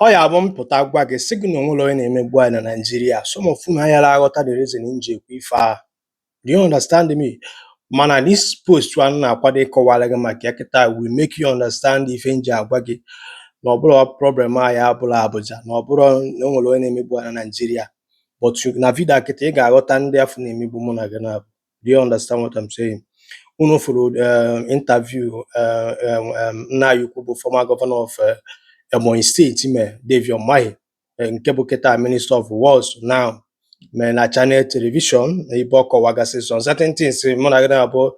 ọ ya-abụ m pụta gwa gị sị gị na o nwerọ onye na-emegbu anyị na Naịjirịa some of unu ayara aghọta the reason m ji ekwu ife a do you understand me mana this post a m na-akwado ịkọwara gị maka ya kịta will make you understand ife m ji agwa gị na ọ bụrọ problem anyị abụrọ Abuja na ọ bụrọ na o nwere onye na-emegbu anyị na Naịjirịa but na vidio a kịta ị ga-aghọta ndị afụ na-emegbu mụ na gị na Do you understand what I'm saying? Unu fụrụ um, interview uh, um, um, nna anyị ukwu bụ former governor of uh, Ebonyi State mee David Umahi eh, nke bụ kịta Minister of Works now mee na Channel Television ebe ọ kọwagasị some certain things mụ na gị naabọ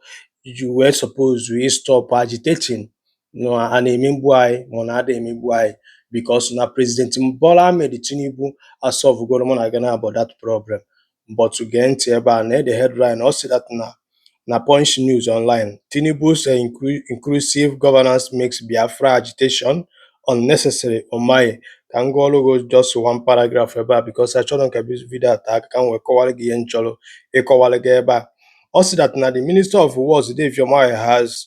you were supposed to stop agitating na a na-emegbu anyị ma ọ na a da-emegbu anyị because na President Bola Ahmed Tinubu asọvụgoro mụ na gị naabọ that problem But gee ntị ebe a, na the headline ọ sị that na na Punch News Online, Tinubu's eh, inclusive governance makes Biafra agitation unnecessary Umahi. Ka m gụọrụ gị just one paragraph ebe a because achọrọ m ka vidio a tee aka ka m wee kọwara gị ihe m chọrọ ịkọwara gị ebe a. Ọ sị that na the Minister of Works, Dave Umahi, has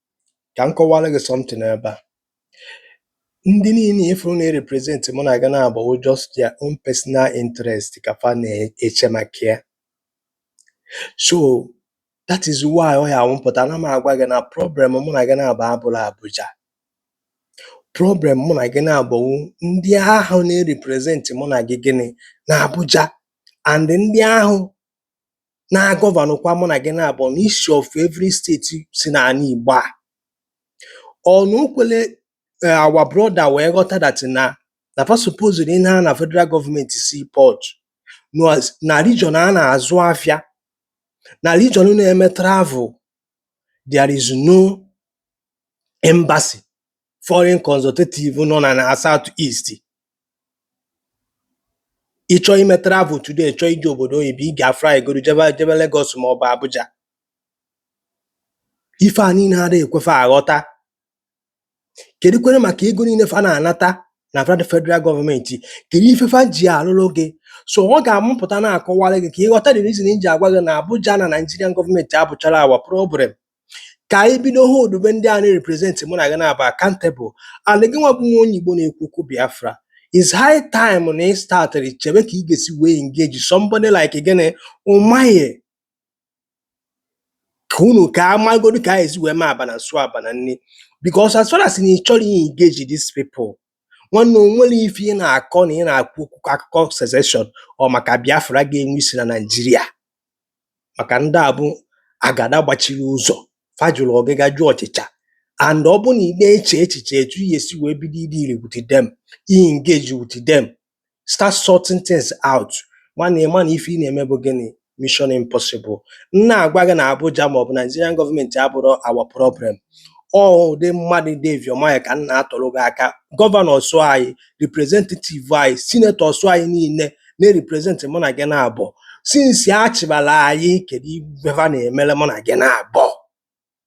kà m kọwara gị something ebe à ndị niile ị fụrụ na-erepresent mụ na gị naabọ wụ just their own personal interest kà fa na-eche maka ya so that is why ọ ya-awụ m pụta na m agwa gị na problem mụ na gị naabọ abụrọ Abuja problem mụ na gị naabọ wụ ndị ahụ na-erepresent mụ na gị gịnị na Abuja and ndị ahụ na-agọvanụkwa mụ na gị naabọ n'isi of every steeti si n'ala Igbo a ọ na o kwele eh, our brother wee ghọta that na na fa supposed ịna na federal gọọmenti seaport na region a na-azụ afịa na region na-eme travel there is no embassy foreign consultative nọ na na South East ị chọọ ime travel today chọọ ije obodo oyibo ị ga-afly goro jebe Lagos ma ọ bụ Abuja ife a niile ada ekwe fa aghọta kedukwere maka ego niile fa na-anata na fed- federal gọọmenti kedu ife fa ji alụlụ gị so ọ ga-awụ m pụta na-akọwara gị ka ị ghọta the reason m ji agwa gị na Abuja na Nigerian gọọmenti abụcharọ our problem kà ànyị bido holdube ndị à na-represent mụ nà gị naabọ accountable and gịnwa bụ nwa onye Igbo na-ekwu okwu Biafra is high time na ị started chebe kà ị gà-èsi wee engage somebody like gịnị Umahi ka unu ka a magodu ka anyị esi wee ma abana nsu abana nni because as far as na ị chọrọ i engage these people nwanne o nwere ife ị na-akọ na ị na-akwu okwu kọ akụkọ sezeshọn or maka Biafra ga-enwe isi na Naịjirịa maka ndị a bụ agada gbachiri ụzọ fa jụrụ ọgịga jụ ọchịcha and ọ bụ na ị na-eche echiche etu ihe si wee bido ị deal with them ị engage with them start sorting things out nwanne ị ma na ife ị na-eme bụ gịnị mission impossible m na-agwa gị na Abuja maọbụ Nigerian gọọmenti abụrọ our problem ọ ụdị mmadụ Dave Umahi a ka m na-atụrụ gị aka gọvanọs anyị representative anyị sinetọs anyị niile na-represent mụ na gị naabọ sinsi a chịbara anyị kedu ife ha na-emere mụ na gị naabọ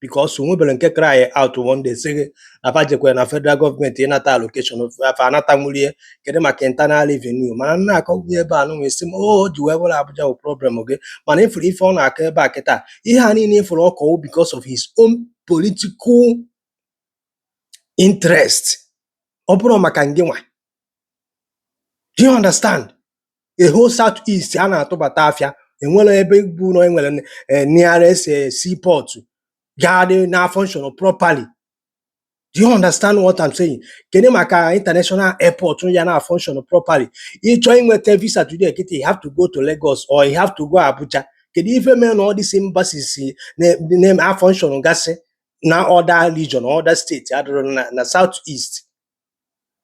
because o nwebere nke cry out one day sị gị na fa jekwere na federal gọọmenti ịnata allocation fa anatanwurọ ya kedu maka internal revenue mana nna akọgbu ebe a nụnwa isi m o o ji wee bụrụ Abuja bụ problem gị mana ị fụrụ ife ọ na-akọ ebe a kịta ihe a niile ị fụrụ ọ kọ wụ because of his own political interest ọ bụrọ maka ngị nwa do you understand the whole south east a na-atụbata afịa e nwere ebe bụ na e nwere eh, nearest eh, seaport ga-adị na-afunction properly do you understand what I'm saying kedu maka international airport ya na-afunction properly ị chọọ inweta visa today kịta you have to go to Lagos or you have to go Abuja kedu ife mere na all these embassies na-afunction gasị na other region other state adịrọ na, na south east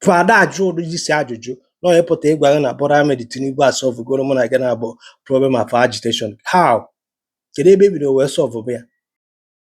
fa ada ajụ ụdị isi ajụjụ na onye pụta ịgwa gị na Bola Ahmed Tinubu asọvụgoro mụ na gị naabọ problem of agitation how kedu ebe e bido wee sọvụ ya